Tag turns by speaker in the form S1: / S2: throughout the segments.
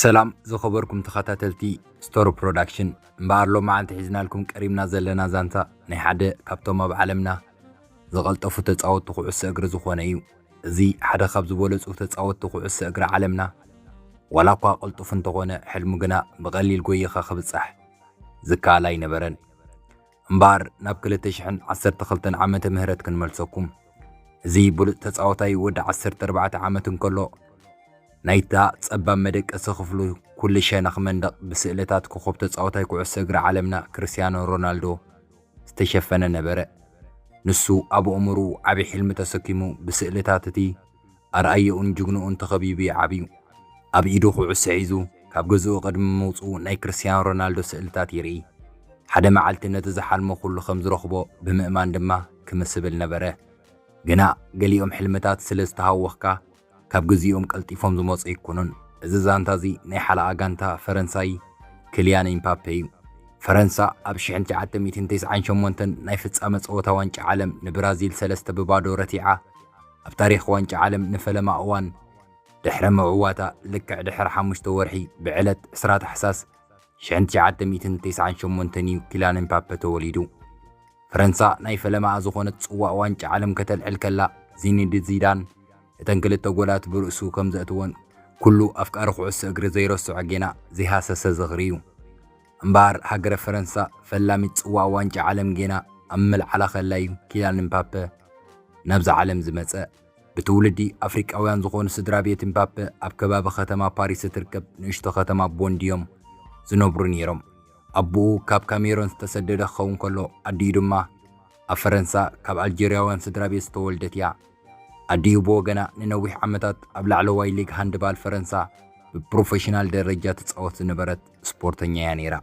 S1: ሰላም ዝኸበርኩም ተኸታተልቲ ስቶሪ ፕሮዳክሽን እምበኣር ሎም መዓልቲ ሒዝናልኩም ቀሪብና ዘለና ዛንታ ናይ ሓደ ካብቶም ኣብ ዓለምና ዝቐልጠፉ ተፃወትቲ ኩዕሶ እግሪ ዝኾነ እዩ እዚ ሓደ ካብ ዝበለጹ ተጻወትቲ ኩዕሶ እግሪ ዓለምና ዋላኳ ቅልጡፍ እንተኾነ ሕልሙ ግና ብቀሊል ጎይኻ ክብጻሕ ዝከኣል ኣይነበረን። እምበኣር ናብ ክልተ ሽሕን ዓሰርተ ክልተን ዓመተ ምህረት ክንመልሰኩም። እዚ ብሉጽ ተጻዋታይ ወዲ ዓሰርተ ኣርባዕተ ዓመት እንከሎ ናይታ ጸባብ መደቀሲ ክፍሉ ኩሉ ሸነኽ መንደቕ ብስእልታት ኮኾብ ተጻዋታይ ኩዕሶ እግሪ ዓለምና ክርስትያኖ ሮናልዶ ዝተሸፈነ ነበረ። ንሱ ኣብ ኣእምሮኡ ዓቢ ሕልሚ ተሰኪሙ ብስእልታት እቲ ኣርኣያኡን ጅግንኡን ተኸቢቡ እዩ ዓብዩ። ኣብ ኢዱ ኩዕሶ ሒዙ ካብ ገዝኡ ቅድሚ ምውጽኡ ናይ ክርስትያኖ ሮናልዶ ስእልታት ይርኢ። ሓደ መዓልቲ ነቲ ዝሓልሞ ኩሉ ከም ዝረኽቦ ብምእማን ድማ ክምስብል ነበረ። ግና ገሊኦም ሕልምታት ስለ ዝተሃወኽካ ካብ ግዚኦም ቀልጢፎም ዝመጹ ኣይኮኑን። እዚ ዛንታ እዚ ናይ ሓለቓ ጋንታ ፈረንሳይ ክልያን ኢምፓፔ እዩ። ፈረንሳ ኣብ ሽሕን ትሽዓተ ሚእትን ተስዓን ሸሞንተን ናይ ፍጻመ ጸወታ ዋንጫ ዓለም ንብራዚል ሰለስተ ብ ባዶ ረቲዓ ኣብ ታሪኽ ዋንጫ ዓለም ንፈለማ እዋን ድሕሪ ምዕዋታ ልክዕ ድሕሪ ሓሙሽተ ወርሒ ብዕለት ዕስራ ታሕሳስ ሽሕን ትሽዓተ ሚእትን ተስዓን ሸሞንተን እዩ ኪላን ኤምፓፐ ተወሊዱ። ፈረንሳ ናይ ፈለማኣ ዝኾነት ጽዋእ ዋንጫ ዓለም ከተልዕል ከላ ዚኒዲ ዚዳን እተን ክልተ ጎላት ብርእሱ ከም ዘእትወን ኩሉ ኣፍቃሪ ኩዕሶ እግሪ ዘይረስዖ ጌና ዘይሃሰሰ ዝኽሪ እዩ። እምበኣር ሃገረ ፈረንሳ ፈላሚት ጽዋእ ዋንጫ ዓለም ጌና ኣብ ምልዓላ ከላ እዩ ኪላን ኤምፓፐ ናብዛ ዓለም ዝመጸ። ብትውልዲ ኣፍሪቃውያን ዝኾኑ ስድራ ቤት እምባፐ ኣብ ከባቢ ከተማ ፓሪስ እትርከብ ንእሽቶ ከተማ ቦንዲ'ዮም ዝነብሩ ነይሮም። ኣቦኡ ካብ ካሜሮን ዝተሰደደ ክኸውን ከሎ ኣዲኡ ድማ ኣብ ፈረንሳ ካብ ኣልጀርያውያን ስድራ ቤት ዝተወልደት'ያ። ኣዲኡ ብወገና ንነዊሕ ዓመታት ኣብ ላዕለዋይ ሊግ ሃንድባል ፈረንሳ ብፕሮፌሽናል ደረጃ ትጻወት ዝነበረት ስፖርተኛ'ያ ነይራ።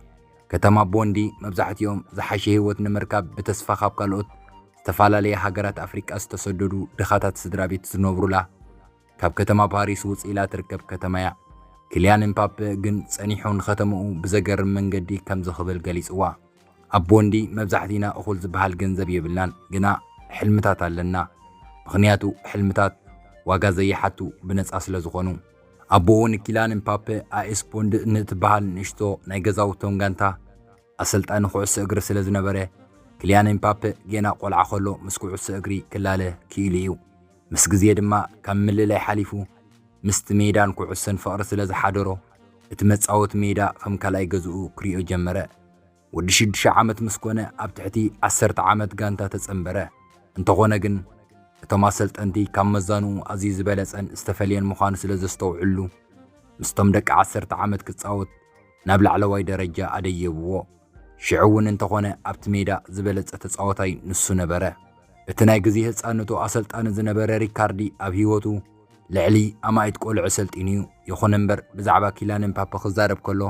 S1: ከተማ ቦንዲ መብዛሕትኦም ዝሓሸ ህይወት ንምርካብ ብተስፋ ካብ ካልኦት ዝተፈላለየ ሃገራት ኣፍሪቃ ዝተሰደዱ ድኻታት ስድራቤት ዝነብሩላ ካብ ከተማ ፓሪስ ውጽእ ኢላ ትርከብ ከተማ'ያ። ክልያን እምፓፐ ግን ጸኒሑ ንከተምኡ ብዘገርም መንገዲ ከምዚ ክብል ገሊጽዋ፣ ኣብ ቦንዲ መብዛሕቲና እኹል ዝበሃል ገንዘብ የብልናን፣ ግና ሕልምታት ኣለና። ምኽንያቱ ሕልምታት ዋጋ ዘይሓቱ ብነጻ ስለዝኾኑ። ኣቦኡ ንኪልያን እምፓፐ ኣኤስ ቦንዲ ንእትበሃል ንእሽቶ ናይ ገዛውቶም ጋንታ፣ ኣሰልጣኒ ኩዕሶ እግሪ ስለ ዝነበረ፣ ክልያን ኤምፓፐ ጌና ቆልዓ ከሎ ምስ ኩዕሶ እግሪ ክላለ ክኢሉ እዩ። ምስ ግዜ ድማ ካብ ምልላይ ሓሊፉ ምስቲ ሜዳን ኩዕሶን ፍቕሪ ስለ ዝሓደሮ፣ እቲ መጻወቲ ሜዳ ከም ካልኣይ ገዝኡ ክሪኦ ጀመረ። ወዲ ሽዱሽተ ዓመት ምስ ኮነ ኣብ ትሕቲ ዓሰርተ ዓመት ጋንታ ተጸንበረ። እንተኾነ ግን እቶም ኣሰልጠንቲ ካብ መዛንኡ ኣዝዩ ዝበለጸን ዝተፈልየን ምዃኑ ስለ ዘስተውዕልሉ፣ ምስቶም ደቂ ዓሰርተ ዓመት ክጻወት፣ ናብ ላዕለዋይ ደረጃ ኣደየብዎ። ሽዑ እውን እንተኾነ ኣብቲ ሜዳ ዝበለጸ ተጻዋታይ ንሱ ነበረ። እቲ ናይ ግዜ ህጻንነቱ ኣሰልጣኒ ዝነበረ ሪካርዲ ኣብ ህይወቱ ልዕሊ ኣማኢት ቆልዑ ኣሰልጢኑ እዩ። ይኹን እምበር ብዛዕባ ኪልያን እምፓፐ ክዛረብ ከሎ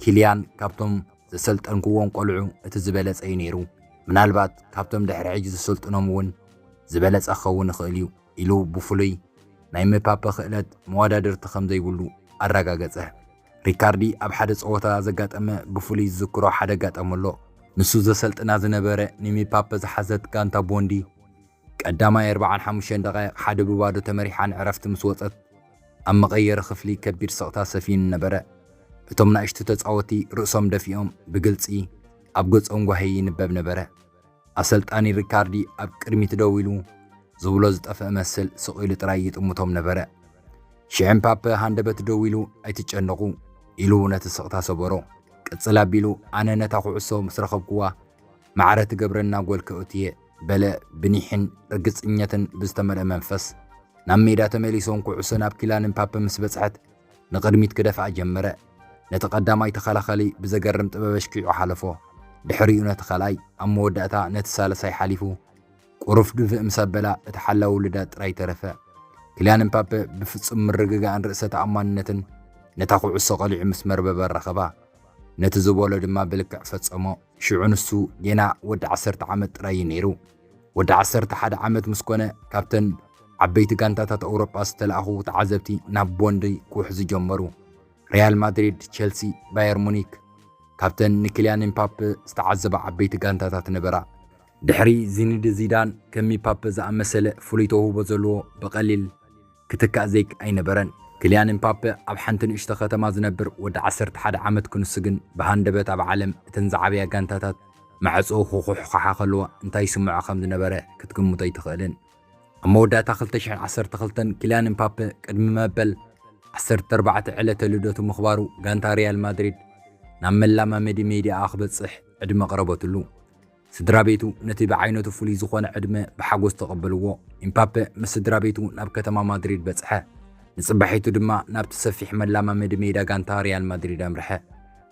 S1: ኪልያን ካብቶም ዘሰልጠንክዎም ቆልዑ እቲ ዝበለጸ እዩ ነይሩ። ምናልባት ካብቶም ድሕሪ ሕጂ ዘሰልጥኖም እውን ዝበለጸ ክኸውን ይኽእል እዩ። ኢሉ ብፍሉይ ናይ ምፓፐ ክእለት መወዳድርቲ ከም ዘይብሉ ኣረጋገጸ። ሪካርዲ ኣብ ሓደ ጸወታ ዘጋጠመ ብፍሉይ ዝዝክሮ ሓደ ኣጋጣሚ ኣሎ። ንሱ ዘሰልጥና ዝነበረ ንምፓፐ ዝሓዘት ጋንታ ቦንዲ፣ ቀዳማይ ኣርብዓን ሓሙሽተን ደቓይቕ ሓደ ብ ባዶ ተመሪሓ ንዕረፍቲ ምስ ወጸት፣ ኣብ መቐየሪ ክፍሊ ከቢድ ስቕታ ሰፊኑ ነበረ። እቶም ናእሽቱ ተጻወቲ ርእሶም ደፊኦም ብግልጺ ኣብ ገጾም ጓሂ ይንበብ ነበረ። ኣሰልጣኒ ሪካርዲ ኣብ ቅድሚት ደው ኢሉ ዝብሎ ዝጠፍአ መስል ስቕ ኢሉ ጥራይ ይጥምቶም ነበረ። ሽዕም ፓፐ ሃንደበት ደው ኢሉ ኣይትጨነቑ ኢሉ ነቲ ስቕታ ሰበሮ። ቅጽል ኣቢሉ ኣነ ነታ ኩዕሶ ምስ ረኸብኩዋ ማዕረ ትገብረና ጎል ከእቱየ በለ ብኒሕን ርግጽኘትን ብዝተመልአ መንፈስ። ናብ ሜዳ ተመሊሶም ኩዕሶ ናብ ኪላንን ፓፐ ምስ በጽሐት ንቕድሚት ክደፍኣ ጀመረ። ነቲ ቀዳማይ ተኸላኸሊ ብዘገርም ጥበብ ኣሽኪዑ ሓለፎ። ድሕሪኡ ነቲ ካልኣይ፣ ኣብ መወዳእታ ነቲ ሳልሳይ ሓሊፉ ቁሩፍ ድፍእ ምስ ኣበላ እቲ ሓላዊ ውሉዳት ጥራይ ተረፈ። ክልያን እምፓፐ ብፍጹም ምርግጋእን ርእሰ ተኣማንነትን ነታ ኩዕሶ ቀሊዑ ምስ መርበብ ኣራኸባ። ነቲ ዝበሎ ድማ ብልክዕ ፈጸሞ። ሽዑ ንሱ ጌና ወዲ ዓሰርተ ዓመት ጥራይ እዩ ነይሩ። ወዲ ዓሰርተ ሓደ ዓመት ምስ ኮነ ካብተን ዓበይቲ ጋንታታት ኣውሮጳ ዝተላእኹ ተዓዘብቲ ናብ ቦንዲ ክውሕዙ ጀመሩ። ሪያል ማድሪድ፣ ቼልሲ፣ ባየር ሙኒክ ካብተን ንኪልያን ኤምፓፔ ዝተዓዘባ ዓበይቲ ጋንታታት ነበራ። ድሕሪ ዚኒድ ዚዳን ከም ሚፓፔ ዝኣመሰለ ፍሉይ ተውህቦ ዘለዎ ብቐሊል ክትካእ ዘይክ ኣይነበረን። ክልያን እምፓፐ ኣብ ሓንቲ ንእሽቶ ከተማ ዝነብር ወዲ ዓሰርተ ሓደ ዓመት ክንሱ ግን ብሃንደበት ኣብ ዓለም እተን ዝዓበያ ጋንታታት ማዕጾኡ ክኹሕዃሓ ከለዋ እንታይ ይስምዖ ከም ዝነበረ ክትግምቶ ኣይትኽእልን። ኣብ መወዳእታ ክልተ ሽሕን ዓሰርተ ክልተን ክልያን እምፓፐ ቅድሚ መበል ዓሰርተ ኣርባዕተ ዕለተ ልደቱ ምኽባሩ ጋንታ ሪያል ማድሪድ ናብ መላማመዲ ሜድያኣ ክበጽሕ ዕድመ ኣቕረበትሉ። ስድራቤቱ ነቲ ብዓይነቱ ፍሉይ ዝዀነ ዕድመ ብሓጐስ ተቐበልዎ። ኢምፓፐ ምስ ስድራቤቱ ናብ ከተማ ማድሪድ በጽሐ፣ ንጽባሒቱ ድማ ናብቲ ሰፊሕ መላማመዲ ሜዳ ጋንታ ሪያል ማድሪድ ኣምርሐ።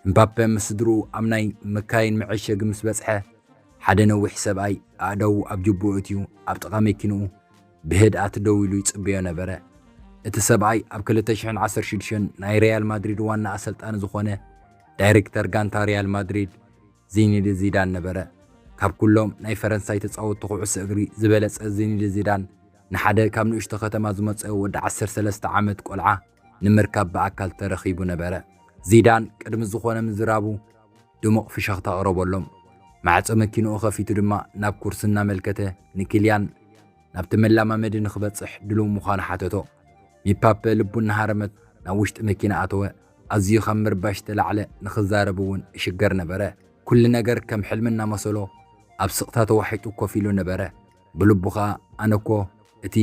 S1: ኢምፓፐ ምስ ስድርኡ ኣብ ናይ መካይን መዐሸጊ ምስ በጽሐ፣ ሓደ ነዊሕ ሰብኣይ ኣእዳዉ ኣብ ጁብኡ ኣእትዩ ኣብ ጥቓ መኪንኡ ብህድኣት ደው ኢሉ ይጽበዮ ነበረ። እቲ ሰብኣይ ኣብ ክልተ ሽሕን ዓሰርተ ሽዱሽተን ናይ ሪያል ማድሪድ ዋና ኣሰልጣኒ ዝዀነ ዳይረክተር ጋንታ ሪያል ማድሪድ ዚኒዲ ዚዳን ነበረ። ካብ ኩሎም ናይ ፈረንሳይ ተጻወትቲ ኩዕሶ እግሪ ዝበለጸ ዚኒዲ ዚዳን ንሓደ ካብ ንእሽቶ ከተማ ዝመጸ ወዲ ዓሰርተ ሰለስተ ዓመት ቆልዓ ንምርካብ ብኣካል ተረኺቡ ነበረ። ዚዳን ቅድሚ ዝኾነ ምዝራቡ ድሙቕ ፍሸኽታ ኣቕረበሎም። ማዕጾ መኪንኡ ከፊቱ ድማ ናብ ኩርሲ እናመልከተ ንኪልያን ናብቲ መላማመዲ ንኽበጽሕ ድሉው ምዃኑ ሓተቶ። ሚፓፔ ልቡ እናሃረመት ናብ ውሽጢ መኪና ኣተወ። ኣዝዩ ካብ ምርባሽ ዝተላዕለ ንኽዛረብ እውን እሽገር ነበረ። ኩሉ ነገር ከም ሕልሚ እናመሰሎ ኣብ ስቕታ ተዋሒጡ ኮፍ ኢሉ ነበረ። ብልቡ ኸኣ ኣነ እኮ እቲ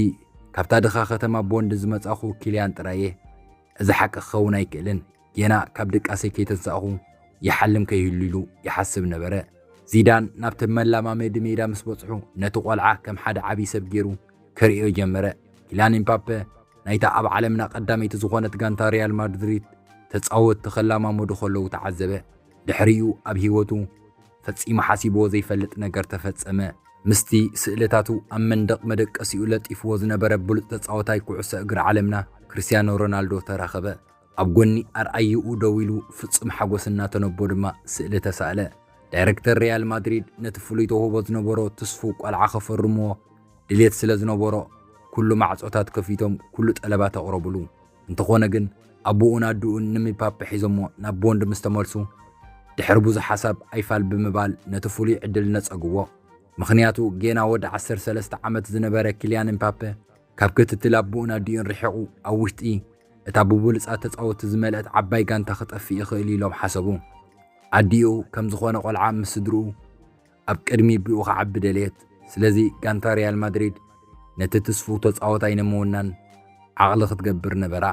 S1: ካብታ ድኻ ከተማ ቦንድ ዝመጻእኹ ኪልያን ጥራይ እየ። እዚ ሓቂ ክኸውን ኣይክእልን፣ ጌና ካብ ድቃሰይ ከይተንሳእኹ ይሓልም ከይህሉ ኢሉ ይሓስብ ነበረ። ዚዳን ናብቲ መላማመዲ ሜዳ ምስ በጽሑ ነቲ ቆልዓ ከም ሓደ ዓብዪ ሰብ ገይሩ ክርእዮ ጀመረ። ኪላን ኢምፓፔ ናይታ ኣብ ዓለምና ቀዳመይቲ ዝኾነት ጋንታ ሪያል ማድሪድ ተጻወትቲ ከላማመዱ ከለዉ ተዓዘበ። ድሕሪኡ ኣብ ህይወቱ ፈጺሙ ሓሲብዎ ዘይፈልጥ ነገር ተፈጸመ። ምስቲ ስእልታቱ ኣብ መንደቕ መደቀሲኡ ለጢፍዎ ዝነበረ ብሉጽ ተጻዋታይ ኩዕሶ እግሪ ዓለምና ክርስትያኖ ሮናልዶ ተራኸበ። ኣብ ጎኒ ኣርኣይኡ ደው ኢሉ ፍጹም ሓጎስ እናተነቦ ድማ ስእሊ ተሳእለ። ዳይረክተር ሪያል ማድሪድ ነቲ ፍሉይ ተውህቦ ዝነበሮ ትስፉው ቆልዓ ከፈርምዎ ድሌት ስለ ዝነበሮ ኩሉ ማዕጾታት ከፊቶም ኩሉ ጠለባት ኣቕረቡሉ። እንተኾነ ግን ኣቡኡን ኣዱኡን ንምፓፐ ሒዞሞ ናብ ቦንድ ምስ ተመልሱ ድሕሪ ብዙሕ ሓሳብ ኣይፋል ብምባል ነቲ ፍሉይ ዕድል ነጸግዎ። ምኽንያቱ ጌና ወዲ ዓሰርተ ሰለስተ ዓመት ዝነበረ ኪልያን እምፓፐ ካብ ክትትል ኣቦኡን ኣዲኡን ርሒቑ ኣብ ውሽጢ እታ ብብሉጻት ተጻወቲ ዝመልእት ዓባይ ጋንታ ክጠፍእ ይኽእል እዩ ኢሎም ሓሰቡ። ኣዲኡ ከም ዝኾነ ቆልዓ ምስ ስድርኡ ኣብ ቅድሚ ቢኡ ክዓቢ ደለየት። ስለዚ ጋንታ ሪያል ማድሪድ ነቲ ትስፉው ተጻወታይ ንምውናን ዓቕሊ ክትገብር ነበራ።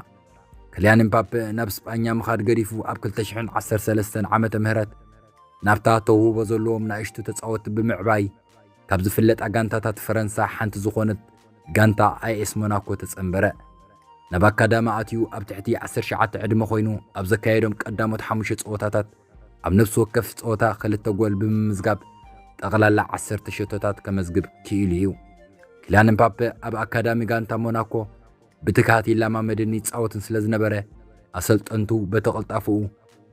S1: ክልያን ምፓፔ ናብ ስጳኛ ምኻድ ገዲፉ ኣብ 2013 ዓመተ ምህረት ናብታ ተውህቦ ዘለዎም ናእሽቱ ተጻወቲ ብምዕባይ ካብ ዝፍለጣ ጋንታታት ፈረንሳ ሓንቲ ዝኾነት ጋንታ ኣይኤስ ሞናኮ ተጸንበረ። ናብ ኣካዳሚ ኣትዩ ኣብ ትሕቲ ዓሰርተ ሸውዓተ ዕድመ ኮይኑ ኣብ ዘካየዶም ቀዳሞት ሓሙሽተ ጸወታታት ኣብ ነፍሲ ወከፍ ጸወታ ክልተ ጎል ብምምዝጋብ ጠቕላላ ዓሰርተ ሸቶታት ከመዝግብ ክኢሉ እዩ። ኪላን ምፓፔ ኣብ ኣካዳሚ ጋንታ ሞናኮ ብትግሃት ይለማመድን ይጻወትን ስለ ዝነበረ ኣሰልጠንቱ በቲ ቅልጣፈኡ፣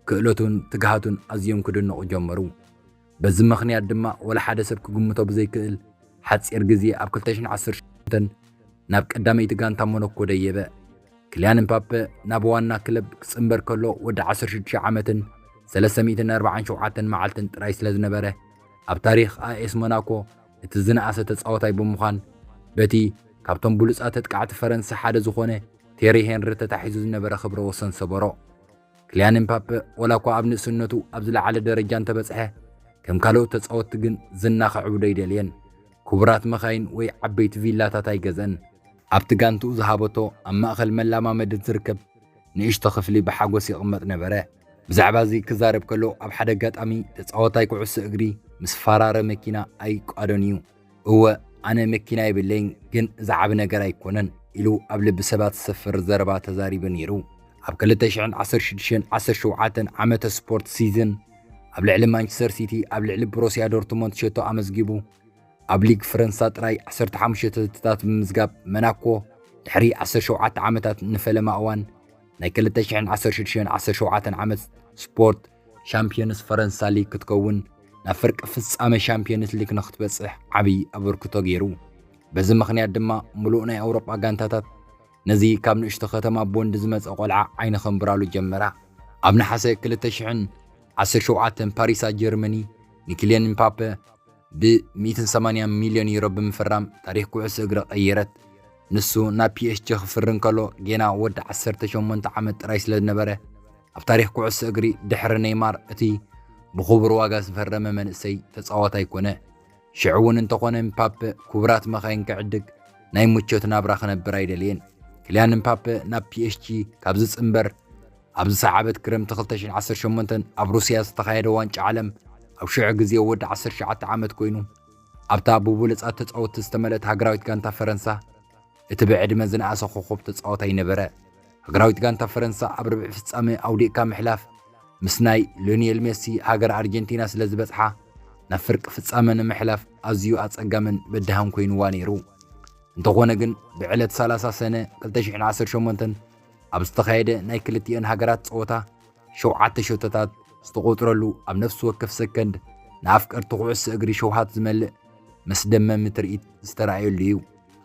S1: ክእለቱን ትግሃቱን ኣዝዮም ክድነቑ ጀመሩ። በዚ ምኽንያት ድማ ወላ ሓደ ሰብ ክግምቶ ብዘይክእል ሓጺር ግዜ ኣብ 2018 ናብ ቀዳመይቲ ጋንታ ሞኖኮ ደየበ። ክልያን እምፓፐ ናብ ዋና ክለብ ክጽንበር ከሎ ወዲ 16 ዓመትን 347 መዓልትን ጥራይ ስለ ዝነበረ ኣብ ታሪኽ ኣኤስ ሞናኮ እቲ ዝነኣሰ ተጻወታይ ብምዃን በቲ ካብቶም ብሉጻት ተጥቃዕቲ ፈረንሳ ሓደ ዝኾነ ቴሪ ሄንሪ ተታሒዙ ዝነበረ ክብረ ወሰን ሰበሮ። ክልያን ኤምፓፐ ወላ እኳ ኣብ ንእስነቱ ኣብ ዝለዓለ ደረጃ እንተበጽሐ ከም ካልኦት ተጻወትቲ ግን ዝና ከዕብዶ ኣይደልየን። ክቡራት መኻይን ወይ ዓበይቲ ቪላታት ኣይገዝአን። ኣብቲ ጋንትኡ ዝሃበቶ ኣብ ማእከል መለማመዲ እትርከብ ንእሽቶ ክፍሊ ብሓጐስ ይቕመጥ ነበረ። ብዛዕባ እዚ ክዛረብ ከሎ ኣብ ሓደ ኣጋጣሚ ተጻዋታይ ኩዕሶ እግሪ ምስ ፋራረ መኪና ኣይቋዶን እዩ። እወ ኣነ መኪና የብለይን ግን ዝዓቢ ነገር ኣይኮነን ኢሉ ኣብ ልቢ ሰባት ዝሰፍር ዘረባ ተዛሪቡ ነይሩ። ኣብ 2016-17 ዓመተ ስፖርት ሲዝን ኣብ ልዕሊ ማንቸስተር ሲቲ ኣብ ልዕሊ ብሮስያ ዶርትሞንት ሸቶ ኣመዝጊቡ ኣብ ሊግ ፈረንሳ ጥራይ 15 ሸተትታት ብምምዝጋብ መናኮ ድሕሪ 17 ዓመታት ንፈለማ እዋን ናይ 2016-17 ዓመት ስፖርት ሻምፕዮንስ ፈረንሳ ሊግ ክትከውን ናብ ፍርቂ ፍጻመ ሻምፕዮንስ ሊግ ንክትበጽሕ ዓብዪ ኣበርክቶ ገይሩ። በዚ ምኽንያት ድማ ምሉእ ናይ ኣውሮጳ ጋንታታት ነዚ ካብ ንእሽቶ ከተማ ቦንድ ዝመጸ ቆልዓ ዓይኒ ከንብራሉ ጀመራ። ኣብ ነሓሰ 2017 ፓሪሳ ጀርመኒ ንኪልያን ምፓፐ ብ ሚእትን ሰማንያን ሚልዮን ዩሮ ብምፍራም ታሪኽ ኩዕሶ እግሪ ቀይረት። ንሱ ናብ ፒኤስጂ ክፍሪ እንከሎ ጌና ወዲ ዓሰርተ ሸሞንተ ዓመት ጥራይ ስለዝነበረ፣ ኣብ ታሪኽ ኩዕሶ እግሪ ድሕሪ ነይማር እቲ ብኽቡር ዋጋ ዝፈረመ መንእሰይ ተጻዋታይ ኮነ። ሽዑ'ውን እንተኾነ ምፓፐ ክቡራት መኻይን ክዕድግ ናይ ምቾት ናብራ ክነብር ኣይደለየን። ክልያን ምፓፐ ናብ ፒኤስጂ ካብ ዝጽንበር፣ ኣብዚ ሰዓበት ክረምቲ 2018 ኣብ ሩስያ ዝተኻየደ ዋንጫ ዓለም ኣብ ሽዑ ግዜ ወዲ 19 ዓመት ኮይኑ ኣብታ ብብሉጻት ተጻወትቲ ዝተመልእት ሃገራዊት ጋንታ ፈረንሳ እቲ ብዕድመ ዝነኣሰ ኮኾብ ተጻዋታይ ነበረ። ሃገራዊት ጋንታ ፈረንሳ ኣብ ርብዒ ፍጻመ ኣውዲቕካ ምሕላፍ ምስ ናይ ሎኒየል ሜሲ ሃገር ኣርጀንቲና ስለ ዝበጽሓ ናብ ፍርቂ ፍጻመ ንምሕላፍ ኣዝዩ ኣጸጋምን በዳህን ኮይኑዋ ነይሩ። እንተኾነ ግን ብዕለት 30 ሰነ 2018 ኣብ ዝተኻየደ ናይ ክልቲኤን ሃገራት ጸወታ ሸውዓተ ሸቶታት ዝተቖፅረሉ ኣብ ነፍሲ ወከፍ ሰከንድ ንኣፍቀርቲ ኩዕሶ እግሪ ሸውሃት ዝመልእ መስደመሚ ትርኢት ዝተረኣየሉ እዩ።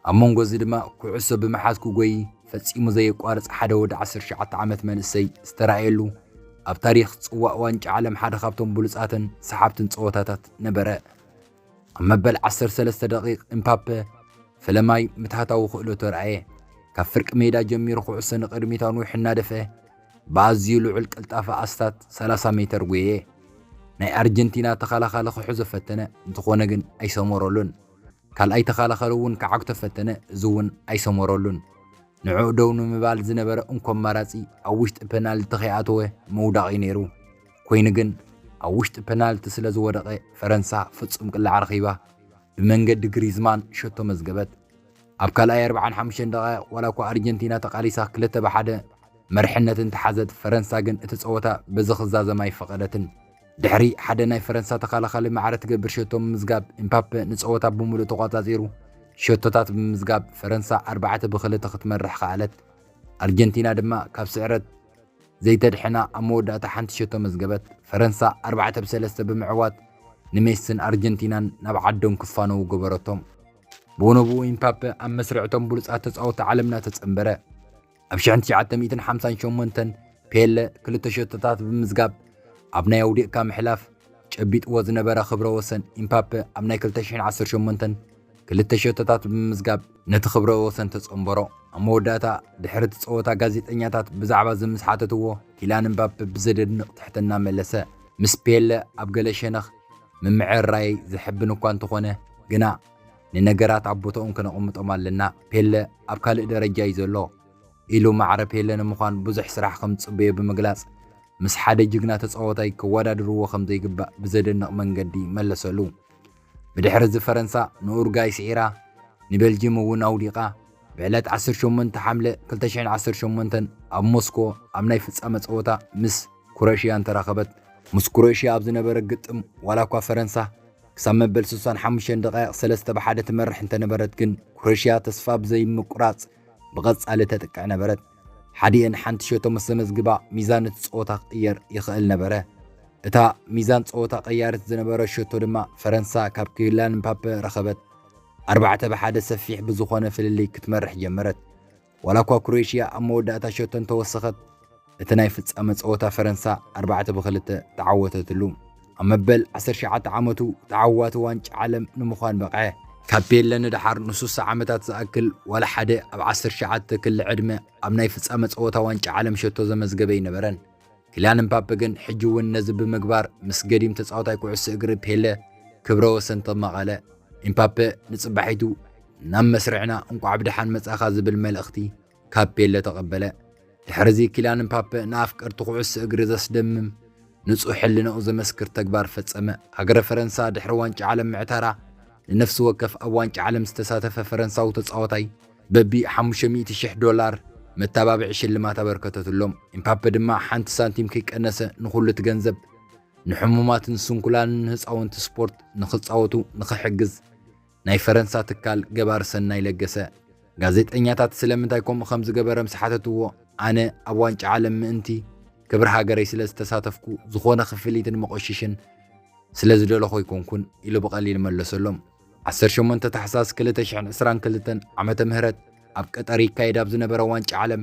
S1: ኣብ መንጎ እዚ ድማ ኩዕሶ ብምሓዝ ክጎይ ፈጺሙ ዘየቋርጽ ሓደ ወዲ 19 ዓመት መንእሰይ ዝተረኣየሉ ኣብ ታሪኽ ጽዋእ ዋንጫ ዓለም ሓደ ካብቶም ብሉጻትን ሰሓብትን ጸወታታት ነበረ። ኣብ መበል ዓሰርተ ሰለስተ ደቒቕ እምፓፐ ፈለማይ ምትሃታዊ ክእለቱ ኣርኣየ። ካብ ፍርቂ ሜዳ ጀሚሩ ኩዕሶ ንቕድሚት ኣንዊሑ እናደፍአ ብኣዝዩ ልዑል ቅልጣፈ ኣስታት ሰላሳ ሜተር ጐየየ። ናይ ኣርጀንቲና ተኸላኻሊ ክሕዞ ፈተነ፣ እንተዀነ ግን ኣይሰመረሉን። ካልኣይ ተኸላኻሊ እውን ክዓግቶ ፈተነ፣ እዚ እውን ኣይሰመረሉን። ንዕኡ ደው ንምባል ዝነበረ እንኮ ኣማራጺ ኣብ ውሽጢ ፐናልቲ ከይኣተወ ምውዳቕ'ዩ ነይሩ። ኮይኑ ግን ኣብ ውሽጢ ፐናልቲ ስለ ዝወደቐ ፈረንሳ ፍጹም ቅላዕ ረኺባ ብመንገዲ ግሪዝማን ሸቶ መዝገበት። ኣብ ካልኣይ ኣርብዓን ሓሙሽተን ደቓይቕ ዋላ እኳ ኣርጀንቲና ተቓሊሳ ክልተ ብ ሓደ መርሕነት እንተሓዘት ፈረንሳ ግን እቲ ጸወታ በዚ ክዛዘም ኣይፈቐደትን። ድሕሪ ሓደ ናይ ፈረንሳ ተኸላኻሊ ማዕረ ትገብር ሸቶ ምምዝጋብ ኤምፓፐ ንጸወታ ብምሉእ ተቖጻጺሩ ሸቶታት ብምምዝጋብ ፈረንሳ ኣርባዕተ ብ ክልተ ክትመርሕ ከኣለት። ኣርጀንቲና ድማ ካብ ስዕረት ዘይተድሕና ኣብ መወዳእታ ሓንቲ ሸቶ መዝገበት፣ ፈረንሳ ኣርባዕተ ብ ሰለስተ ብምዕዋት ንሜስን ኣርጀንቲናን ናብ ዓዶም ክፋነዉ ገበረቶም። ብወነብኡ ኢምፓፐ ኣብ መስርዕ እቶም ብሉጻት ተጻወቲ ዓለምና ተጸንበረ። ኣብ ሽሕን ትሽዓተ ሚእትን ሓምሳን ሸሞንተን ፔለ ክልተ ሸቶታት ብምምዝጋብ ኣብ ናይ ኣውዲቕካ ምሕላፍ ጨቢጥዎ ዝነበረ ክብረ ወሰን ኢምፓፐ ኣብ ናይ ክልተ ሽሕን ዓሰርተ ሸሞንተን ክልተ ሸቶታት ብምምዝጋብ ነቲ ክብረ ወሰን ተጸንበሮ። ኣብ መወዳእታ፣ ድሕሪ እቲ ጸወታ ጋዜጠኛታት ብዛዕባ እዚ ምስ ሓተትዎ፣ ኪላን እምባፐ ብዘደንቕ ትሕትና መለሰ፣ ምስ ፔለ ኣብ ገለ ሸነኽ ምምዕርራየይ ዘሐብን እኳ እንተዀነ፣ ግና ንነገራት ኣብ ቦታኦም ከነቐምጦም ኣለና፣ ፔለ ኣብ ካልእ ደረጃ እዩ ዘሎ፣ ኢሉ ማዕረ ፔለ ንምዃን ብዙሕ ስራሕ ከም ዝጽበዮ ብምግላጽ፣ ምስ ሓደ ጅግና ተጻዋታይ ከወዳድርዎ ከም ዘይግባእ ብዘደንቕ መንገዲ መለሰሉ። ብድሕሪ እዚ ፈረንሳ ንኡርጋይ ስዒራ ንቤልጂም እውን ኣውዲቓ ብዕለት ዓሰርተ ሸሞንተ ሓምለ ክልተ ሽሕን ዓሰርተ ሸሞንተን ኣብ ሞስኮ ኣብ ናይ ፍጻመ ጸወታ ምስ ኩረሽያን ተራኸበት። ምስ ኩረሽያ ኣብ ዝነበረ ግጥም ዋላ እኳ ፈረንሳ ክሳብ መበል ስሳን ሓሙሽተን ደቓይቕ ሰለስተ ብ ሓደ ትመርሕ እንተነበረት ግን ኩረሽያ ተስፋ ብዘይምቁራጽ ብቐጻሊ ተጥቅዕ ነበረት። ሓዲኤን ሓንቲ ሸቶ ምስ ዘመዝግባ ሚዛን እቲ ጸወታ ክቕየር ይኽእል ነበረ። እታ ሚዛን ጸወታ ቀያርት ዝነበረ ሸቶ ድማ ፈረንሳ ካብ ክዩላን ምፓፐ ረኸበት። ኣርባዕተ ብሓደ ሰፊሕ ብዝኾነ ፍልልይ ክትመርሕ ጀመረት። ዋላ እኳ ክሮኤሽያ ኣብ መወዳእታ ሸቶ እንተወሰኸት እቲ ናይ ፍጻመ ጸወታ ፈረንሳ ኣርባዕተ ብክልተ ተዓወተትሉ። ኣብ መበል 19 ዓመቱ ተዓዋቲ ዋንጫ ዓለም ንምዃን በቕዐ። ካብ ፔለ ንደሓር ንሱሳ ዓመታት ዝኣክል ዋላ ሓደ ኣብ 19 ክሊ ዕድመ ኣብ ናይ ፍጻመ ጸወታ ዋንጫ ዓለም ሸቶ ዘመዝገበ ኣይነበረን። ኪልያን እምፓፔ ግን ሕጂ እውን ነዚ ብምግባር ምስ ገዲም ተጻዋታይ ኩዕሶ እግሪ ፔለ ክብረ ወሰን ተማቐለ። ኢምፓፔ ንጽባሒቱ ናብ መስርዕና እንቋዕ ብደሓን መጻኻ ዝብል መልእኽቲ ካብ ፔለ ተቐበለ። ድሕርዚ ኪላን ምፓፐ ንኣፍቀርቲ ኩዕሶ እግሪ ዘስደምም ንጹህ ሕልናኡ ዘመስክር ተግባር ፈጸመ። ሃገረ ፈረንሳ ድሕሪ ዋንጫ ዓለም ምዕታራ ንነፍሲ ወከፍ ኣብ ዋንጫ ዓለም ዝተሳተፈ ፈረንሳዊ ተጻዋታይ በቢ ሓሙሽተ ሚእቲ ሽሕ ዶላር መተባብዒ ሽልማት ኣበርከተትሎም። ኢምፓፐ ድማ ሓንቲ ሳንቲም ከይቀነሰ ንኹሉ እቲ ገንዘብ ንሕሙማትን ስንኩላንን ህጻውንቲ ስፖርት ንኽጻወቱ ንኽሕግዝ ናይ ፈረንሳ ትካል ገባሪ ሰናይ ለገሰ፣ ጋዜጠኛታት ስለምንታይ ከምኡ ከም ዝገበረ ምስ ሓተትዎ፣ ኣነ ኣብ ዋንጫ ዓለም ምእንቲ ክብሪ ሃገረይ ስለ ዝተሳተፍኩ ዝኾነ ክፍሊት ንመቖሽሽን ስለ ዝደለኹ ኣይኮንኩን ኢሉ ብቐሊል መለሰሎም። ዓሰርተ ሸሞንተ ታሕሳስ ክልተ ሽሕን ዕስራን ክልተን ዓመተ ምህረት ኣብ ቀጠር ይካየድ ኣብ ዝነበረ ዋንጫ ዓለም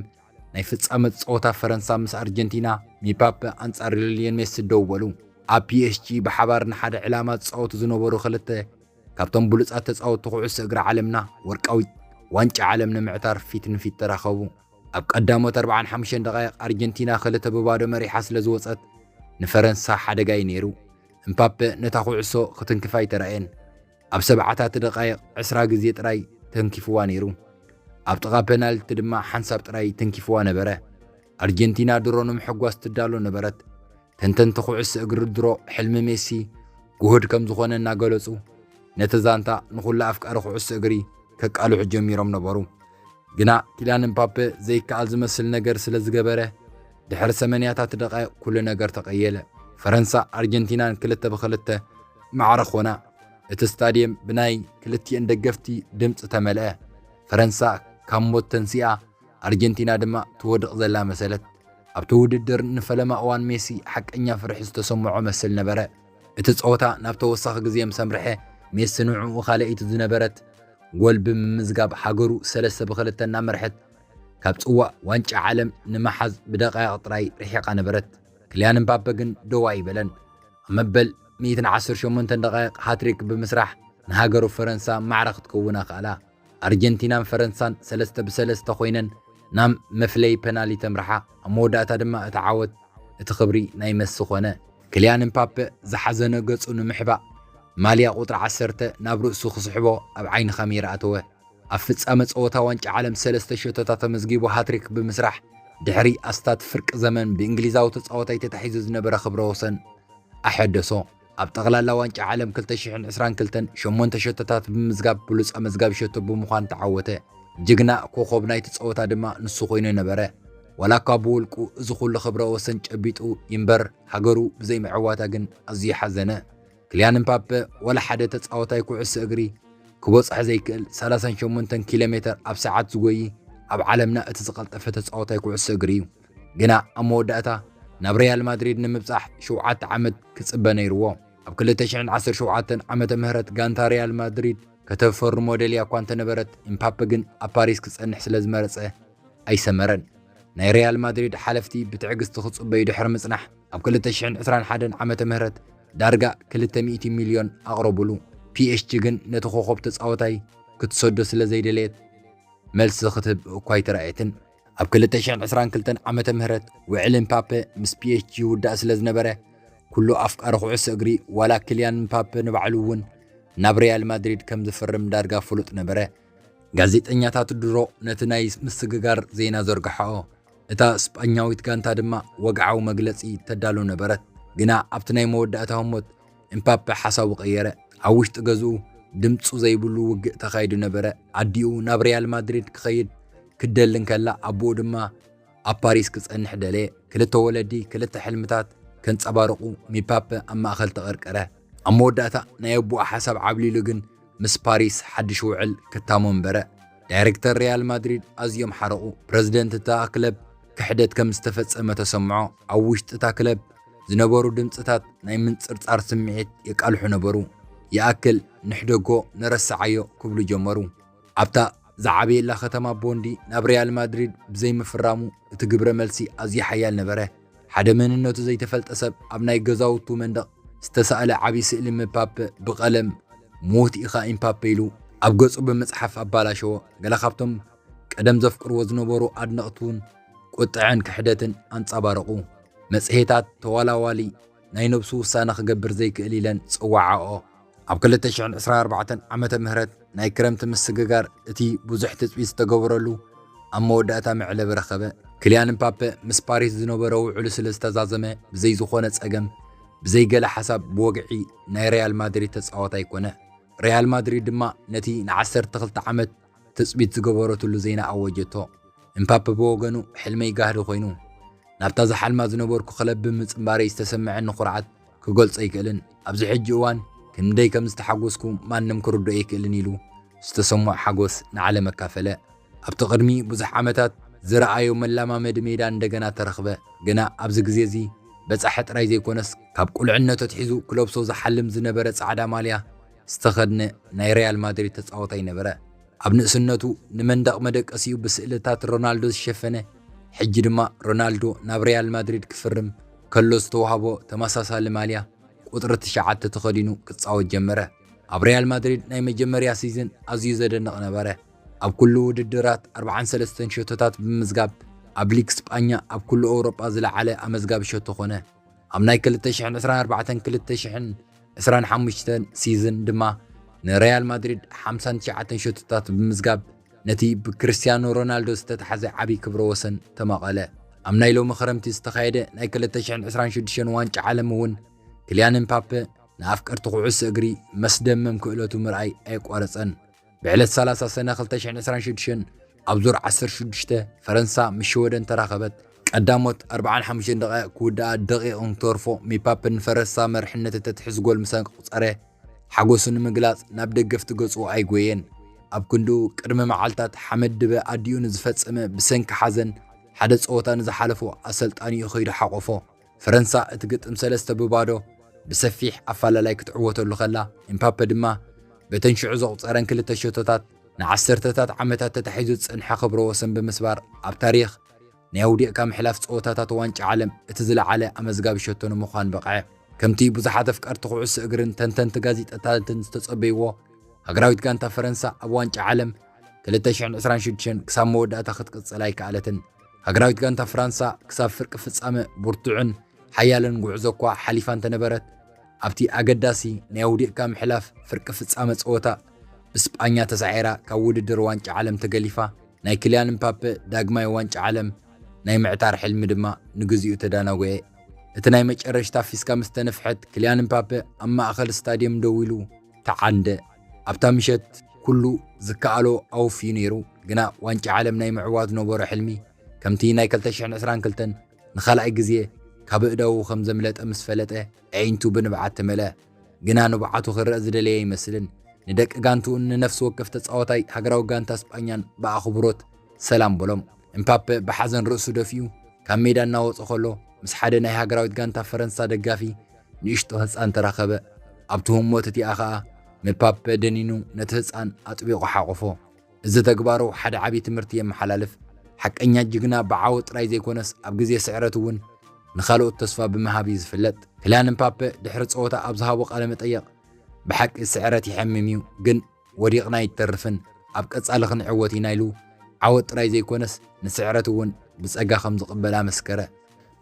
S1: ናይ ፍጻመ ጸወታ ፈረንሳ ምስ ኣርጀንቲና ሚፓፐ ኣንጻር ሊዮኔል ሜሲ ደው በሉ። ኣብ ፒኤስጂ ብሓባር ንሓደ ዕላማ ዝጻወቱ ዝነበሩ ክልተ ካብቶም ብሉጻት ተጻወቲ ኩዕሶ እግሪ ዓለምና ወርቃዊት ዋንጫ ዓለም ንምዕታር ፊት ንፊት ተራኸቡ። ኣብ ቀዳሞት ኣርብዓን ሓሙሽተን ደቓይቕ ኣርጀንቲና ክልተ ብባዶ መሪሓ ስለ ዝወጸት ንፈረንሳ ሓደጋ'ዩ ነይሩ። እምፓፐ ነታ ኩዕሶ ክትንክፋ ኣይተራእየን። ኣብ ሰብዓታት ደቓይቕ ዕስራ ግዜ ጥራይ ተንኪፍዋ ነይሩ። ኣብ ጥቓ ፐናልቲ ድማ ሓንሳብ ጥራይ ተንኪፍዋ ነበረ። ኣርጀንቲና ድሮ ንምሕጓስ ትዳሎ ነበረት። ተንተንቲ ኩዕሶ እግሪ ድሮ ሕልሚ ሜሲ ጉሁድ ከም ዝኾነ እናገለጹ ነቲ ዛንታ ንኹሉ ኣፍቃሪ ኩዕሶ እግሪ ከቃልሑ ጀሚሮም ነበሩ። ግና ኪላን እምፓፔ ዘይከኣል ዝመስል ነገር ስለ ዝገበረ ድሕሪ ሰመንያታት ደቓይቕ ኩሉ ነገር ተቐየለ። ፈረንሳ ኣርጀንቲናን ክልተ ብክልተ ማዕረ ኮና። እቲ ስታድየም ብናይ ክልቲኤን ደገፍቲ ድምፂ ተመልአ። ፈረንሳ ካብ ሞት ተንሲኣ ኣርጀንቲና ድማ ትወድቕ ዘላ መሰለት። ኣብቲ ውድድር ንፈለማ እዋን ሜሲ ሓቀኛ ፍርሒ ዝተሰምዖ መስል ነበረ። እቲ ጸወታ ናብ ተወሳኺ ግዜ ምስ ኣምርሐ፣ ሜሲ ንዕኡ ካልኣይቲ ዝነበረት ጎል ብምምዝጋብ ሃገሩ ሰለስተ ብ ክልተ እናመርሐት ካብ ጽዋእ ዋንጫ ዓለም ንምሓዝ ብደቓይቕ ጥራይ ርሒቓ ነበረት። ክልያን እምባፐ ግን ደው ኣይበለን። ኣብ መበል ሚእትን ዓሰርተ ሸሞንተን ደቓይቕ ሃትሪክ ብምስራሕ ንሃገሩ ፈረንሳ ማዕረ ክትከውን ኣኽኣላ። ኣርጀንቲናን ፈረንሳን ሰለስተ ብ ሰለስተ ኮይነን ናብ መፍለዪ ፐናልይ ተምርሓ፣ ኣብ መወዳእታ ድማ እቲ ዓወት እቲ ክብሪ ናይ መሲ ኮነ። ክልያን እምፓፐ ዝሓዘነ ገጹ ንምሕባእ ማልያ ቁጽሪ ዓሰርተ ናብ ርእሱ ክስሕቦ ኣብ ዓይኒ ካሜራ ኣተወ። ኣብ ፍጻመ ጸወታ ዋንጫ ዓለም ሰለስተ ሸቶታት ኣመዝጊቡ ሃትሪክ ብምስራሕ ድሕሪ ኣስታት ፍርቂ ዘመን ብእንግሊዛዊ ተጻዋታይ ተታሒዙ ዝነበረ ክብረ ወሰን ኣሐደሶ። ኣብ ጠቕላላ ዋንጫ ዓለም 2022 ሸሞንተ ሸቶታት ብምምዝጋብ ብሉፅ ኣመዝጋቢ ሸቶ ብምዃን ተዓወተ። ጅግና ኮኾብ ናይቲ ፀወታ ድማ ንሱ ኮይኑ ነበረ። ዋላ እኳ ብውልቁ እዚ ኩሉ ክብረ ወሰን ጨቢጡ ይንበር ሃገሩ ብዘይምዕዋታ ግን ኣዝዩ ሓዘነ። ክልያን እምፓፐ ዋላ ሓደ ተፃወታይ ኩዕሶ እግሪ ክቦፅሐ ዘይክእል ሰላሳን ሸሞንተን ኪሎ ሜተር ኣብ ሰዓት ዝጎዪ ኣብ ዓለምና እቲ ዝቐልጠፈ ተፃወታይ ኩዕሶ እግሪ እዩ። ግና ኣብ መወዳእታ ናብ ሪያል ማድሪድ ንምብጻሕ ሸውዓተ ዓመት ክጽበ ነይርዎ። ኣብ 2017 ዓመተ ምህረት ጋንታ ሪያል ማድሪድ ከተፈርሞ ደልያ እኳ እንተነበረት ኢምፓፐ ግን ኣብ ፓሪስ ክጸንሕ ስለ ዝመረጸ ኣይሰመረን። ናይ ሪያል ማድሪድ ሓለፍቲ ብትዕግስቲ ክጽበዩ ድሕሪ ምጽናሕ ኣብ 2021 ዓመተ ምህረት ዳርጋ 200 ሚልዮን ኣቕረቡሉ። ፒኤስጂ ግን ነቲ ኮኾብ ተጻወታይ ክትሰዶ ስለ ዘይደለየት መልሲ ክትህብ እኳ ኣይተራእየትን። ኣብ 2022 ዓመተ ምህረት ውዕል ምፓፐ ምስ ፒኤስጂ ይውዳእ ስለ ዝነበረ ኩሉ ኣፍቃሪ ኩዕሶ እግሪ ዋላ ክልያን ምፓፐ ንባዕሉ እውን ናብ ሪያል ማድሪድ ከም ዝፍርም ዳርጋ ፍሉጥ ነበረ። ጋዜጠኛታት ድሮ ነቲ ናይ ምስግጋር ዜና ዘርግሐኦ፣ እታ ስጳኛዊት ጋንታ ድማ ወግዓዊ መግለጺ ተዳሉ ነበረት። ግና ኣብቲ ናይ መወዳእታ ህሞት እምፓፐ ሓሳቡ ቀየረ። ኣብ ውሽጢ ገዝኡ ድምፁ ዘይብሉ ውግእ ተኻይዱ ነበረ። ኣዲኡ ናብ ሪያል ማድሪድ ክኸይድ ክደሊ እንከላ ኣቦኡ ድማ ኣብ ፓሪስ ክጸንሕ ደለየ። ክልተ ወለዲ ክልተ ሕልምታት ከንጸባርቑ ሚፓፐ ኣብ ማእከል ተቐርቀረ። ኣብ መወዳእታ ናይ ኣቦኡ ሓሳብ ዓብሊሉ ግን ምስ ፓሪስ ሓድሽ ውዕል ክታሞ ኣንበረ። ዳይረክተር ሪያል ማድሪድ ኣዝዮም ሓረቑ። ፕረዚደንት እታ ክለብ ክሕደት ከም ዝተፈጸመ ተሰምዖ። ኣብ ውሽጢ እታ ክለብ ዝነበሩ ድምጽታት ናይ ምንጽርጻር ስምዒት የቃልሑ ነበሩ። ይኣክል ንሕደጎ ንረስዓዮ ክብሉ ጀመሩ። ኣብታ ዝዓበየላ ከተማ ቦንዲ ናብ ሪያል ማድሪድ ብዘይምፍራሙ እቲ ግብረ መልሲ ኣዝዩ ሓያል ነበረ። ሓደ መንነቱ ዘይተፈልጠ ሰብ ኣብ ናይ ገዛውቱ መንደቕ ዝተሳእለ ዓቢ ስእሊ ምፓፐ ብቐለም ምዉት ኢኻ ኢምፓፐ ኢሉ ኣብ ገጹ ብምጽሓፍ ኣባላሸዎ። ገለ ካብቶም ቀደም ዘፍቅርዎ ዝነበሩ ኣድነቕቱን ቁጥዐን ክሕደትን ኣንጻባረቑ። መጽሔታት ተዋላዋሊ ናይ ነብሱ ውሳነ ክገብር ዘይክእል ኢለን ጸዋዓኦ። ኣብ ክልተ ሽሕን ዕስራን ኣርባዕተን ዓመተ ምህረት ናይ ክረምቲ ምስግጋር እቲ ብዙሕ ትጽቢት ዝተገበረሉ ኣብ መወዳእታ መዕለቢ ረኸበ። ክልያን ምፓፐ ምስ ፓሪስ ዝነበሮ ውዕሉ ስለ ዝተዛዘመ ብዘይ ዝኾነ ጸገም ብዘይ ገለ ሓሳብ ብወግዒ ናይ ሪያል ማድሪድ ተጻዋታይ ኮነ። ሪያል ማድሪድ ድማ ነቲ ንዓሰርተ ክልተ ዓመት ትጽቢት ዝገበረትሉ ዜና ኣወጀቶ። እምፓፐ ብወገኑ ሕልመይ ጋህዲ ኮይኑ፣ ናብታ ዝሓልማ ዝነበርኩ ክለብ ብምጽንባረይ ዝተሰመዐኒ ኩርዓት ክገልጾ ኣይክእልን፣ ኣብዚ ሕጂ እዋን ክንደይ ከም ዝተሓጎስኩ ማንም ክርድኦ ኣይክእልን ኢሉ ዝተሰምዖ ሓጎስ ንዓለም ኣካፈለ። ኣብቲ ቅድሚ ብዙሕ ዓመታት ዝረኣዮ መለማመዲ ሜዳ እንደገና ተረኽበ፣ ግና ኣብዚ ግዜ እዚ በጻሒ ጥራይ ዘይኮነስ ካብ ቁልዕነቱ ኣትሒዙ ክለብሶ ዝሓልም ዝነበረ ጻዕዳ ማልያ ዝተኸድነ ናይ ሪያል ማድሪድ ተጻዋታይ ነበረ። ኣብ ንእስነቱ ንመንደቕ መደቀሲኡ ብስእልታት ሮናልዶ ዝሸፈነ፣ ሕጂ ድማ ሮናልዶ ናብ ሪያል ማድሪድ ክፍርም ከሎ ዝተዋህቦ ተመሳሳሊ ማልያ ቁጽሪ ትሽዓተ ተኸዲኑ ክጻወት ጀመረ። ኣብ ሪያል ማድሪድ ናይ መጀመርያ ሲዝን ኣዝዩ ዘደንቕ ነበረ። ኣብ ኩሉ ውድድራት ኣርብዓን ሰለስተን ሸቶታት ብምምዝጋብ ኣብ ሊግ ስጳኛ ኣብ ኩሉ ኤውሮጳ ዝለዓለ ኣመዝጋቢ ሸቶ ኮነ። ኣብ ናይ ክልተ ሽሕን ዕስራን ኣርባዕተን ክልተ ሽሕን ዕስራን ሓሙሽተን ሲዝን ድማ ንሪያል ማድሪድ ሓምሳን ትሽዓተን ሸቶታት ብምምዝጋብ ነቲ ብክርስቲያኖ ሮናልዶ ዝተታሕዘ ዓብዪ ክብረ ወሰን ተማቐለ። ኣብ ናይ ሎሚ ክረምቲ ዝተኻየደ ናይ ክልተ ሽሕን ዕስራን ሽዱሽተን ዋንጫ ዓለም እውን ክልያን እምፓፐ ንኣፍቀርቲ ኩዕሶ እግሪ መስደመም ክእለቱ ምርኣይ ኣየቋረፀን። ብዕለት ሰላሳ ሰነ ክልተ ሽሕን ዕስራን ሽዱሽተን ኣብ ዙር ዓሰርተ ሽዱሽተ ፈረንሳ ምስ ሽወደን ተራኸበት። ቀዳሞት ኣርብዓን ሓሙሽተን ደቓይቕ ክውድኣ ደቒቕ እንትተርፎ ሚፓፕ ንፈረንሳ መርሕነት እተትሕዝ ጎል ምስ ኣቁጸረ ሓጎሱ ንምግላጽ ናብ ደገፍቲ ገጹ ኣይጎየን። ኣብ ክንድኡ ቅድሚ መዓልታት ሓመድ ድበ ኣዲኡ ንዝፈጸመ ብሰንኪ ሓዘን ሓደ ጸወታ ንዝሓለፎ ኣሰልጣኒኡ ከይዱ ሓቖፎ። ፈረንሳ እቲ ግጥም ሰለስተ ብባዶ ብሰፊሕ ኣፈላላይ ክትዕወተሉ ከላ፣ ኤምፓፐ ድማ በተን ሽዑ ዘቑጸረን ክልተ ሸቶታት ንዓሰርተታት ዓመታት ተታሒዙ ዝጸንሐ ክብረ ወሰን ብምስባር ኣብ ታሪኽ ናይ ኣውዲቕካ ምሕላፍ ጸወታታት ዋንጫ ዓለም እቲ ዝለዓለ ኣመዝጋቢ ሸቶ ንምዃን በቕዐ። ከምቲ ብዙሓት ኣፍቀርቲ ኩዕሶ እግርን ተንተንቲ ጋዜጣታትን ዝተጸበይዎ፣ ሃገራዊት ጋንታ ፈረንሳ ኣብ ዋንጫ ዓለም ክልተ ሽሕን ዕስራን ሽዱሽተን ክሳብ መወዳእታ ክትቅጽል ኣይከኣለትን። ሃገራዊት ጋንታ ፍራንሳ ክሳብ ፍርቂ ፍጻመ ብርቱዕን ሓያልን ጉዕዞ እኳ ሓሊፋ እንተነበረት፣ ኣብቲ ኣገዳሲ ናይ ኣውዲቕካ ምሕላፍ ፍርቂ ፍጻመ ጸወታ ብስጳኛ ተሳዒራ ካብ ውድድር ዋንጫ ዓለም ተገሊፋ። ናይ ክልያን እምፓፐ ዳግማይ ዋንጫ ዓለም ናይ ምዕታር ሕልሚ ድማ ንግዚኡ ተዳናጉዔ። እቲ ናይ መጨረሽታ ፊስካ ምስ ተነፍሐት፣ ክልያን እምፓፐ ኣብ ማእከል ስታድየም ደው ኢሉ፣ ተዓንደ ኣብታ ምሸት ኩሉ ዝከኣሎ ኣወፍዩ ነይሩ፣ ግና ዋንጫ ዓለም ናይ ምዕዋት ዝነበሮ ሕልሚ ከምቲ ናይ ክልተ ሽሕን ዕስራን ክልተን ንኻልኣይ ግዜ ካብ ኣእዳዉ ከም ዘምለጠ ምስ ፈለጠ ኣዒንቱ ብንብዓት ተመልኣ። ግና ንብዓቱ ክርኣ ዝደለየ ኣይመስልን፣ ንደቂ ጋንትኡን ንነፍሲ ወከፍ ተጻዋታይ ሃገራዊ ጋንታ ስጳኛን ብኣኽብሮት ሰላም በሎም። እምፓፐ ብሓዘን ርእሱ ደፊኡ ካብ ሜዳ እናወጸ ከሎ ምስ ሓደ ናይ ሃገራዊት ጋንታ ፈረንሳ ደጋፊ ንእሽቶ ህጻን ተራኸበ፣ ኣብቲ ህሞት እቲኣ ኸኣ ንፓፐ ደኒኑ ነቲ ህጻን ኣጥቢቑ ሓቖፎ። እዚ ተግባሩ ሓደ ዓቢ ትምህርቲ የመሓላልፍ፣ ሓቀኛ ጅግና ብዓወት ጥራይ ዘይኰነስ ኣብ ግዜ ስዕረት እውን ንኻልኦት ተስፋ ብምሃብ እዩ ዝፍለጥ። ክላን ምፓፐ ድሕሪ ጸወታ ኣብ ዝሃቦ ቃለ መጠይቕ፣ ብሓቂ ስዕረት የሐምም እዩ፣ ግን፣ ወዲቕና ኣይትተርፍን፣ ኣብ ቀጻሊ ክንዕወት ኢና ኢሉ ዓወት ጥራይ ዘይኮነስ ንስዕረት እውን ብጸጋ ከም ዝቕበል ኣመስከረ።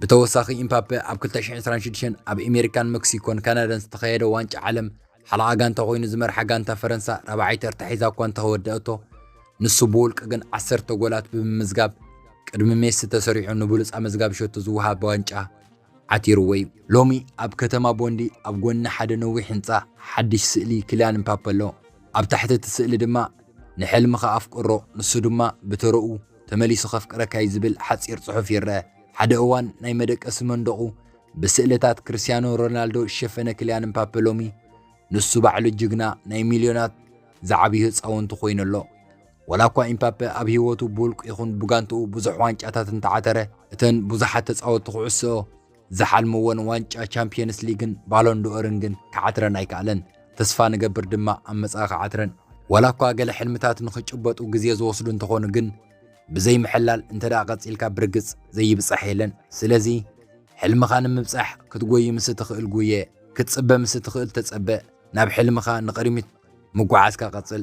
S1: ብተወሳኺ ኢምፓፔ ኣብ ክልተ ሽሕን ዕስራን ሽዱሽተን ኣብ ኤሜሪካን መክሲኮን ካናዳን ዝተኻየደ ዋንጫ ዓለም ሓለቓ ጋንታ ኮይኑ ዝመርሓ ጋንታ ፈረንሳ ራብዓይ ተርታ ሒዛ እኳ እንተወደኣቶ ንሱ ብውልቂ ግን ዓሰርተ ጎላት ብምምዝጋብ ቅድሚ ሜሲ ተሰሪዑ ንብሉጽ ኣመዝጋቢ ሸቶ ዝወሃብ ዋንጫ ዓቲሩዎ'ዩ። ሎሚ ኣብ ከተማ ቦንዲ ኣብ ጎኒ ሓደ ነዊሕ ህንጻ ሓድሽ ስእሊ ክልያን ምፓፐ ኣሎ። ኣብ ታሕቲ እቲ ስእሊ ድማ ንሕልምኻ ኣፍቅሮ ንሱ ድማ ብተረኡ ተመሊሱ ከፍቅረካ'ዩ ዝብል ሓጺር ጽሑፍ ይረኣ። ሓደ እዋን ናይ መደቀሲ መንደቑ ብስእልታት ክርስትያኖ ሮናልዶ ዝሸፈነ ክልያን ምፓፐ ሎሚ ንሱ ባዕሉ ጅግና ናይ ሚልዮናት ዝዓብዩ ህጻውንቲ ኮይኑ ኣሎ። ወላ እኳ ኢምፓፔ ኣብ ህይወቱ ብውልቁ ይኹን ብጋንትኡ ብዙሕ ዋንጫታት እንተዓተረ እተን ብዙሓት ተጻወትቲ ኩዕሶ ዝሓልምወን ዋንጫ ቻምፒየንስ ሊግን ባሎንዶኦርን ግን ክዓትረን ኣይከኣለን። ተስፋ ንገብር ድማ ኣብ መጻኢ ክዓትረን። ወላ እኳ ገለ ሕልምታት ንኽጭበጡ ግዜ ዝወስዱ እንተኾኑ ግን ብዘይ ምሕላል እንተ ደኣ ቀጺልካ ብርግጽ ዘይብጻሕ የለን። ስለዚ ሕልምኻ ንምብጻሕ ክትጎዪ ምስ እትኽእል ጉየ፣ ክትጽበ ምስ እትኽእል ተጸበ፣ ናብ ሕልምኻ ንቕድሚት ምጉዓዝካ ቀጽል።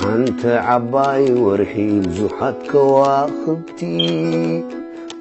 S2: ሓንቲ ዓባይ ወርሒ ብዙሓት ከዋኽብቲ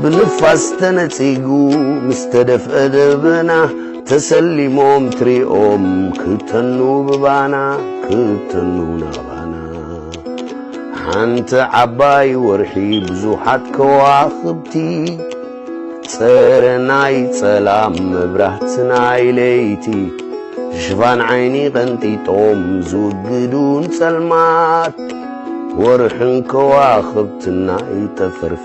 S2: ብንፋስ ተነጺጉ ምስ ተደፍአ ደበና ተሰሊሞም ትሪኦም ክተኑ ብባና ክተኑ ናባና ሓንቲ ዓባይ ወርሒ ብዙሓት ከዋኽብቲ ጸረ ናይ ጸላም መብራህቲ ናይ ለይቲ ሽፋን ዓይኒ ቀንጢጦም ዝውግዱን ጸልማት ወርሕን ከዋኽብትና ይጠፈርፍ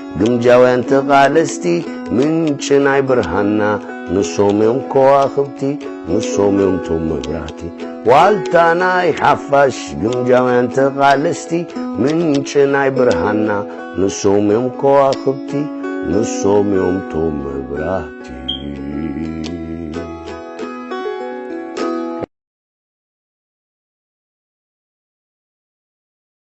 S2: ግምጃውያን ተቓለስቲ ምንጪ ናይ ብርሃንና ንሶም እዮም ከዋኽብቲ ንሶም እዮም ቶም መብራህቲ ዋልታ ናይ ሓፋሽ ግምጃውያን ተቓለስቲ ምንጪ ናይ ብርሃንና ንሶም እዮም ከዋኽብቲ ንሶም እዮም ቶም መብራህቲ